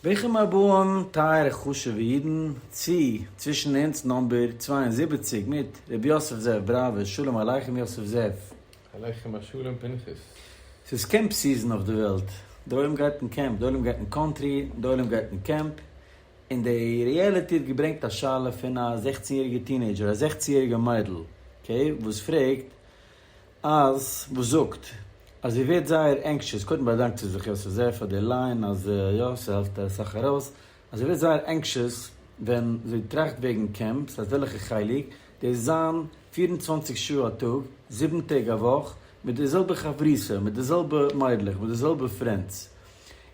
ברוכים הבאים טייערע חשוב'ע אידן צו צווישן אונז נאמבער צוויי און זיבעציק מיט ר' יוסף זאב בראווער, שלום עליכם יוסף זאב. עליכם השלום פנחס. ס'איז קעמפ סיזען אויף די וועלט, די עולם גייט אין קעמפ, די עולם גייט אין קאנטרי, די עולם גייט אין קעמפ, און די ריעליטי האט געברענגט א שאלה פון א זעכצן יעריגע טינעידזשער, א זעכצן יעריגע מיידל, אקעי, וואס פרעגט אז וואס זאגט אז איר ווערט זייער ענקשעס, קודם באדאנקט זי זיך יוסף זייער פאר די ליין אז יא ס'העלפט אסאך ארויס, אז זי ווערט זייער ענקשעס ווען זי טראכט וועגן קעמפ, ס'הייסט וועלכע חלק, דאס זיין פֿיר און צוואַנציק שעה א טאג, זיבן טעג א וואך, מיט די זעלבע חברותא, מיט די זעלבע מיידלעך, מיט די זעלבע פרענדס,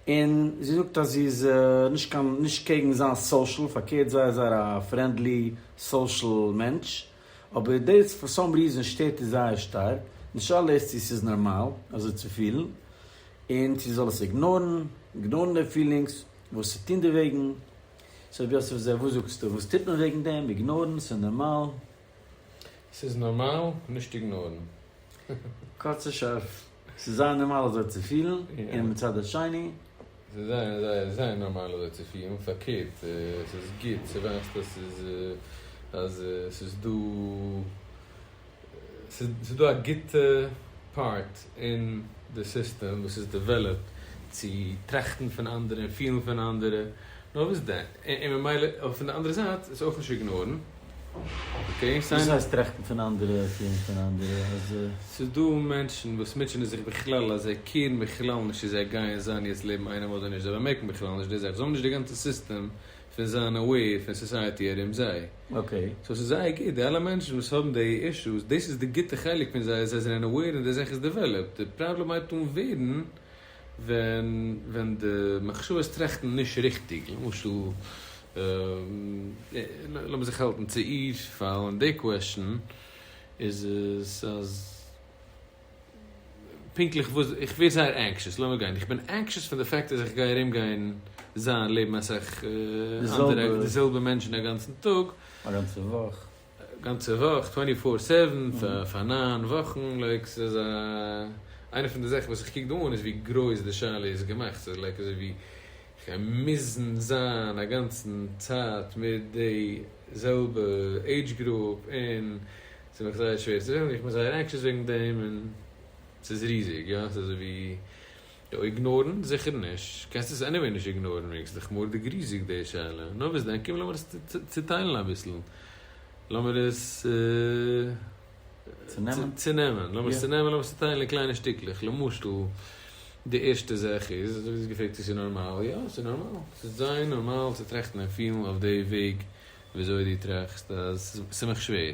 און זי זאגט אז זי איז נישט קיין נישט קעגן זיין סאושעל, פארקערט זייער זייער א פרענדלי סאושעל מענטש. אבער דאס פאר סאם ריזען שטערט איר זייער שטארק, די שאלה איז צו ס'איז נארמאל אזוי צו פילן, און צו זי זאל עס איגנארן, איגנארן די פילינגס, וואס צו טון דערוועגן, סאו ר' יוסף זי ע וואס זאגסטו, וואס טוט מען וועגן דעם, איגנארן, ס'איז נארמאל? ס'איז נארמאל, נישט איגנארן. קורץ און שארף, ס'איז זייער נארמאל אזוי צו פילן, און מצד השני. זיי זענען זייער זייער נארמאל אזוי צו פירן, פארקערט ס'איז גוט צו ווייסן אז ס'איז אז ס'איז דא ס'איז דא א גוטע פארט אין די סיסטעם וואס איז דעוועלאפט צו טראכטן פון אנדערע און פילן פון אנדערע, נאר וואס דען? און ממילא אויף פון די אנדערע זייט עס אויך נישט איגנארן. וואס הייסט טראכטן פון אנדערע, קעירן פון אנדערע? אז. ס'איז דא מענטשן וואס מוטשענען זיך בכלל אז זיי קעירן בכלל נישט צו זיי גייען זיין יעצט לעבן איינעם אדער נישט, זיי באמערקן בכלל נישט די זאך, זיי האבן נישט די גאנצע סיסטעם פון זיין אוועיר פון סאסייעטי ארום זיי. אקעי. סאו ס'איז זייער גוט, די אלע מענטשן וואס האבן די אישוס, דאס איז די גוטע חלק פון זיי, זיי זענען אוועיר און די זאך איז דעוועלאפט, די פראבלעם הייבט אן ווערן ווען די מחשבות טראכטן נישט ריכטיג, למשל, לאמיר זיך האלטן צו איר פאלן, די קוועשאן איז עס אז פונקטליך וואס, איך ווער זייער ענקשעס, לאמיר גיין, איך בין ענקשעס פון די פאקט אז איך גיי ארום גיין זיין לעבן אסאך אנדערע, די זעלבע מענטשן א גאנצן טאג, א גאנצע וואך. גאנצע וואך, טווענטי פאר סעווען, פאר נײַן וואכן, לייק ס'איז א, איינע פון די זאכן וואס איך קוק דא אן איז ווי גרויס די שאלה איז געמאכט, ס'איז לייק אזוי ווי כ'גיי מוזן זיין א גאנצן צייט מיט די זעלבע עידזש גרופ, און ס'איז מיך זייער שווער צו זען, און איך בין זייער ענקשעס וועגן דעם, און ס'איז ריזיג, יא, ס'איז אזוי ווי יא איגנארן? זיכער נישט, קענסט עס עניוועי נישט איגנארן, מעגסט דיך מארדיג ריזיג די שאלה, נא וואס דען, קום לאמיר עס צוטיילן אביסל, לאמיר עס צונעמען, לאמיר עס צונעמען, לאמיר עס צוטיילן אין קליינע שטיקלעך, למשל, די ערשטע זאך איז, אזוי ווי דו האסט געפרעגט צו ס'איז נארמאל, יא ס'איז נארמאל, ס'איז זייער נארמאל צו טראכטן און פילן אויף די וועג ווי אזוי דו טראכסט אז ס'איז מיך שווער.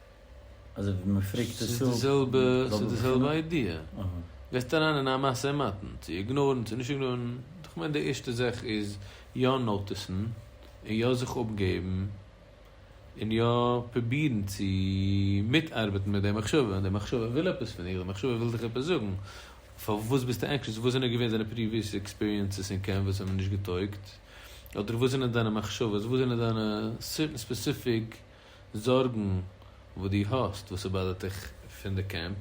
אזוי ווי מען פריקט עס אפ. ס'איז די זעלבע איידיע. גייסט אריין אין א משא ומתן צו איגנארן צו נישט איגנארן. איך מיין די ערשטע זאך איז יא נאוטיסן און יא זיך אפגעבן און יא פרובירן צו מיטארבעטן מיט די מחשבה. די מחשבה וויל עפעס פון דיר, די מחשבה וויל דיך עפעס זאגן. פארוואס ביסטו ענקשעס? וואס זענען געווען דיינע פריוויעס עקספיריענסעס אין קעמפ וואס האבן נישט געטויגט? אדער וואס זענען דיינע מחשבות? וואס זענען דיינע סערטען ספעסיפיק זארגן וואס דו האסט וואס ס'באדערט דיך פון די קעמפ,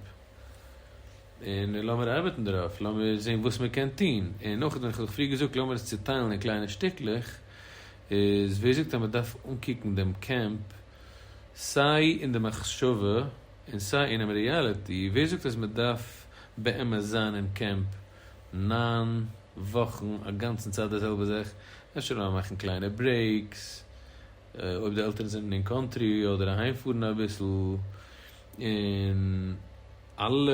און לאמיר ארבעטן דערויף, לאמיר זען וואס מען קען טון, און אויך ווען כ'האב דיך פריער געזאגט לאמיר עס צוטיילן אין קליינע שטיקלעך, איז ווער זאגט אז מען דארף אנקוקן דעם קעמפ סיי אין די מחשבה און סיי אינעם ריאליטי, ווער זאגט אז מען דארף באמת זיין אין קעמפ נײַן וואכן א גאנצן צייט די זעלבע זאך, אפשר לאמיר מאכן קליינע ברעיקס. אויב די עלטערן זענען אין קאנטרי אדער אהיים פארן אביסל און אלע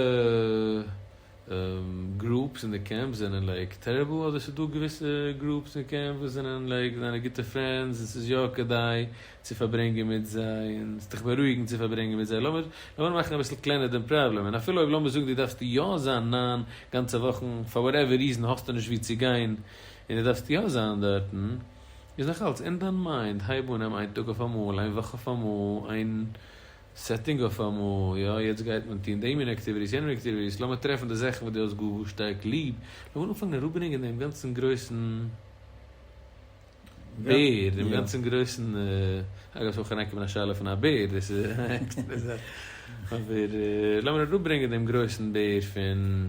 גרופס אין די קעמפ זענען לייק טעריבל אדער ס'איז דא געוויסע גרופס אין קעמפ וואס זענען לייק דיינע גוטע פרענדס און ס'איז יא כדאי צו פארברענגען מיט זיי און ס'וועט דיך בארואיגן צו פארברענגען מיט זיי לאמיר לאמיר מאכן אביסל קלענער דעם פראבלעם און אפילו אויב לאמיר זאגן דו דארפסט יא זיין נײַן גאנצע וואכן פאר וואטעווער ריזען האסטו נישט וואו צו גיין און דו דארפסט יא זיין דארטן. איז נאך אלס אין דיין מיינד, הייב אן, נעם איין טאג אויף אמאל, איין וואך אויף אמאל, איין סעטינג אויף אמאל, יא יעצט גייט מען טון די מין עקטיוויטיס, יענע מין עקטיוויטיס, לאמיר טרעפן די זאכן וואס דו האסט גאר גאר שטארק ליב, לאמיר אנפאנגען אראפברענגען דעם גאנצן גרויסן בער, דעם גאנצן גרויסן, אגב ס'איז אויך אריין געקומען א שאלה פון א בער, דאס איז א עקסטערע זאך, אבער לאמיר אראפברענגען דעם גרויסן בער פון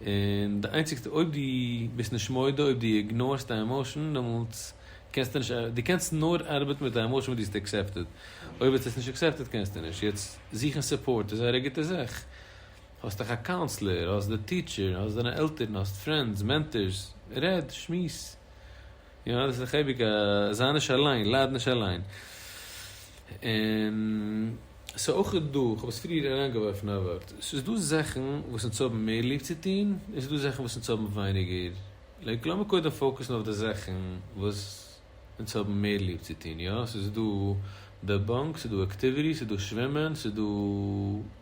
און די איינציגסטע אויב דו ביסט נישט מודה אויב דו איגנארסט א עמאושען דעמאלטס קענסטו נישט דו קענסט נאר ארבעטן מיט א עמאושען וואס דו האסט עקסעפטעד אויב האסט עס נישט עקסעפטעד קענסטו נישט יעצט זוכן סופארט איז זייער א גוטע זאך האסט דיך א קאונסלער האסט די טיטשער האסט דיינע עלטערן האסט פרענדס מענטארס רעד שמועס. יא דאס איז דאך אייביג א זיי נישט אליין, לייד נישט אליין. און ס'איז אויך דא, כ'האב עס פריער אריינגעווארפן א ווארט, ס'איז דא זאכן וואס אונז האבן מער ליב צו טון, און ס'איז דא זאכן וואס אונז האבן ווייניגער לייק. לאמיר קודם פאוקעסן אויף די זאכן וואס אונז האבן מער ליב צו טון, יא, ס'איז דא די באנק, ס'איז דא אקטיוויטיס, ס'איז דא שווימען, ס'איז דא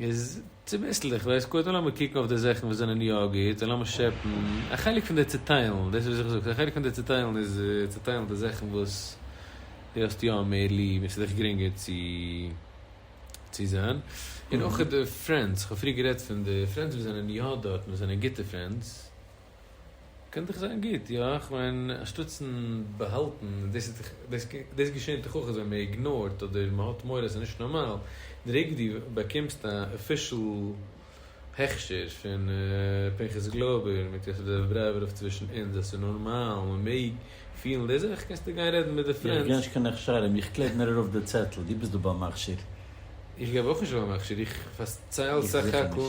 איז צוביסלעך דאס גוט, און לאמיר קוקן אויף די זאכן וואס זענען יא גוט, און לאמיר שעפן א חלק פון די צעטיילן, דאס וואס איך זאג, א חלק פון די צעטיילן איז צעטיילן די זאכן וואס דו האסט יא מער ליב און ס'איז דיך גרינגער צו צו זיין, און אויך די פרענדס, כ'האב פריער גערעדט פון די פרענדס וואס זענען יא דארט, וואס זענען גוטע פרענדס. קען דאך זיין גוט, יא? כ'מיין אנשטאטס'ן באהאלטן, דאס געשענט דאך אויך אז ווען מען איגנארט אדער מען האט מורא אז ס'נישט נארמאל, די רגע דו באקומסט א אפישעל הכשר פון פנחס גלויבער מיט יוסף דער דרייווער אויף צווישן אונז אז ס'איז נארמאל, מען מעג פילן די זאך, קענסטו גיין רעדן מיט די פרענדס. איך גיב נישט קיין הכשרים, איך קלעב נאר ארויף די צעטל, דו ביסט דא ביים מכשיר. איך געב אויך נישט ביים מכשיר, איך פארצייל סך הכל.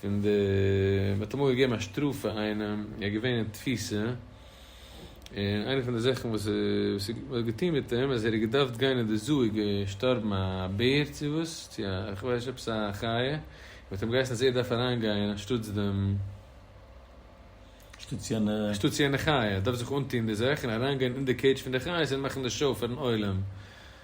פון די מען האט אמאל געגעבן א שטראף פאר איינעם ער איז געווען אין תפיסה און איינע פון די זאכן וואס איז מען האט געטון מיט אים אז ער איז געדארפט גיין אין די זו איז געשטארבן א בער צו וואס צו א איך ווייס נישט עפעס א חיה און מען האט אים געהייסן אז ער דארף אריין גיין אנשטאטס דעם אנשטאטס יענע אנשטאטס יענע חיה ער דארף זיך אנטון די זאך און אריין גיין אין די קעידזש פון די חיות און מאכן די שאו פארן עולם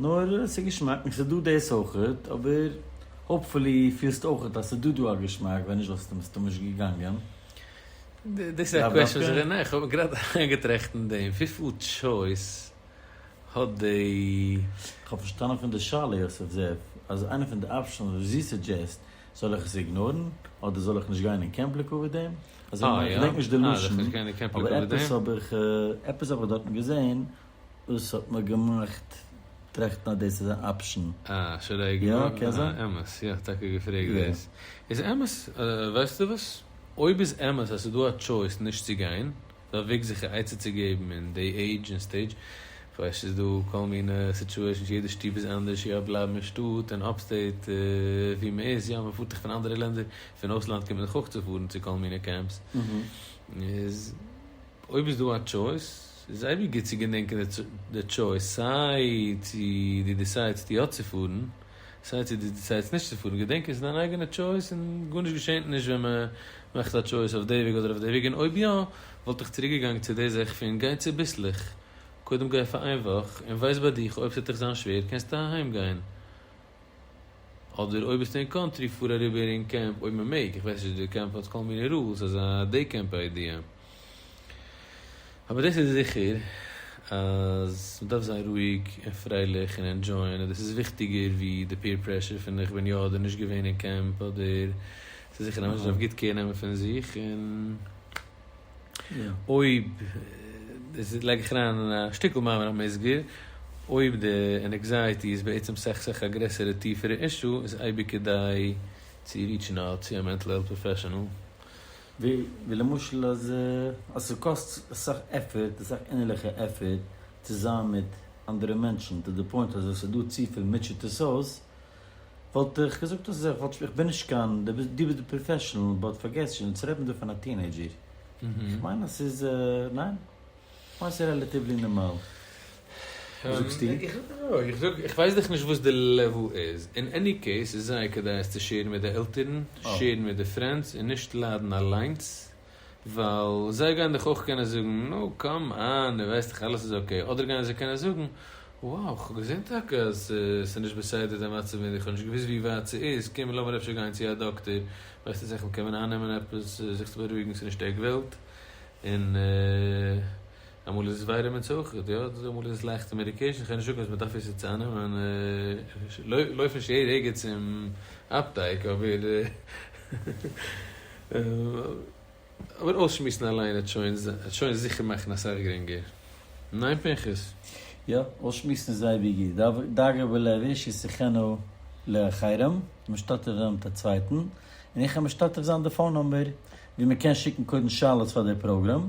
נאר ס'איז געשמאק און ס'איז דא דאס אויכעט, אבער האופפולי פילסטו אויכעט אז ס'איז דא דא א געשמאק, ווען נישט וואלסטו מסתמא געגאנגען. דאס איז א קוועשאן וואס איך בין, איך האב גראדע אריינגעטראכט אין דעם, וויפיל טשויס האט די. איך האב פארשטאנען פון די שאלה יוסף זאב, אז איינע פון די אפשענס וואס זי סודזשעסט, זאל איך עס איגנארן, אדער זאל איך נישט גיין אין קעמפ לקבוע דעם? אזוי מיין איך, איך געדענק נישט די לשון, אבער עפעס האב איך, עפעס האב איך דארטן געזען, וואס האט מיר געמאכט טראכטן אז דאס איז אן אפשן. אה, שוין ר' איגור? יא, קען זיין. אה, אמת. יא, כ'האב טאקע געפרעגט דאס. איז אמת, ווייסטו וואס? אויב איז אמת אז ס'איז דא א טשויס נישט צו גיין, איז א וועג זיך א עצה צו געבן אין די עידזש און סטעידזש. כ'ווייס ס'איז דא כל מיני סיטועשאנס, יעדע שטוב איז אנדערש, יא, בלייבן אין שטאט, אין אפסטעיט, וואו מ'איז, יא, מ'פארט דאך פון אנדערע לענדער, פון אויסלאנד קומט מען דאך אויך צו פארן צו כל מיני קעמפס, איז. אויב איז דא א טשויס, איז אייביג גוט צו געדענקען די טשויס, סיי צו דו דיסיידסט יא צו פארן, סיי צו דו דיסיידסט נישט צו פארן, געדענק עס איז דיין אייגענע טשויס און גארנישט געשענט נישט ווען מען מאכט א טשויס אויף די וועג אדער אויף די וועג, און אויב יא, וואלט איך צוריק געגאנגען צו די זאך פון גיי צוביסלעך, קודם גיי פאר איין וואך און ווייס ביי דיך אויב ס'עט דיך זיין שווער קענסטו אהיים גיין. אדער אויב ביסטו אין קאנטרי פאר אריבער אין קעמפ אויב מען מעג, איך ווייס נישט די קעמפ האט כל מיני רולס אזא דעי קעמפ איידיע. אבער דאס איז זיכער אז מען דארף זיין רואיג און פרייליך און ענדזשויען און דאס איז וויכטיגער ווי די פעיר פרעשור פון איך בין יא אדער נישט געווען אין קעמפ אדער ס'איז זיכער אז א מענטש דארף גוט קעיר נעמען פון זיך און אויב, דאס לייג איך אריין אין א שטיקל מאמר המוסגר, אויב די ענעקזייעטי איז בעצם סך סך א גרעסערע טיפערע אישו, איז אייביג כדאי צו ריטשן אוט צו א מענטל העלט פראפעשענעל. ווי למשל אז ס'קאסט אסאך עפערט, אסאך אינערליכע עפערט, צו זיין מיט אנדערע מענטשן, טו דע פוינט אז עס איז דא צופיל מוטשעט עס אויס, וואלט איך געזאגט אז איך וואלט, איך בין נישט קיין, דו ביסט דו ביסט די פראפעשענעל, באט פארגעס נישט אונז רעדן דא פון א טינעידזשער, איך מיין אז ס'איז, ניין? איך מיין ס'איז רעלאטיוולי נארמאל. וואס זאגסטו? איך זאג, איך ווייס דאך נישט וואס די לעוועל איז, אין עני קעיס איז זייער כדאי עס צו שעירן מיט די עלטערן, שעירן מיט די פרענדס און נישט ליידן אליינס. ווייל זיי גייען דיך אויך קענען זאגן, נו קאם אן, דו ווייסט דאך אלעס איז אקעי, אדער גייען זיי קענען זאגן, וואו, כ'האב געזען טאקע אז ס'איז נישט בסדר דיין מצב און איך האב נישט געוואוסט ווי ווייט ס'איז, קום לאמיר אפשר גיין צו א דאקטער, ווייסט אז איך מ'קען מען אייננעמען עפעס זיך צו בארואיגן ס'איז נישט עק וועלט, און אמאל איז עס ווייער אמת אויכעט, יא, אדער אמאל איז עס לייכטע מעדיקעישן, איך הער נישט אויף אז מ'דארף עס יעצט אייננעמען, איך לויף נישט יעדע רגע צום אפטייק, אבער אבער אויסשמועסן אליין העט שוין העט שוין זיכער מאכן אסאך גרינגער, ניין פנחס? יא, אויסשמועסן איז אייביג גוט, דאגה בלבו של שיחנו לאחרים, משתתף זיין מיט א צווייטן, און איך העל משתתף זיין די פאון נומבער ווי מ'קען שיקן קודם שאלות פאר די פראגראם,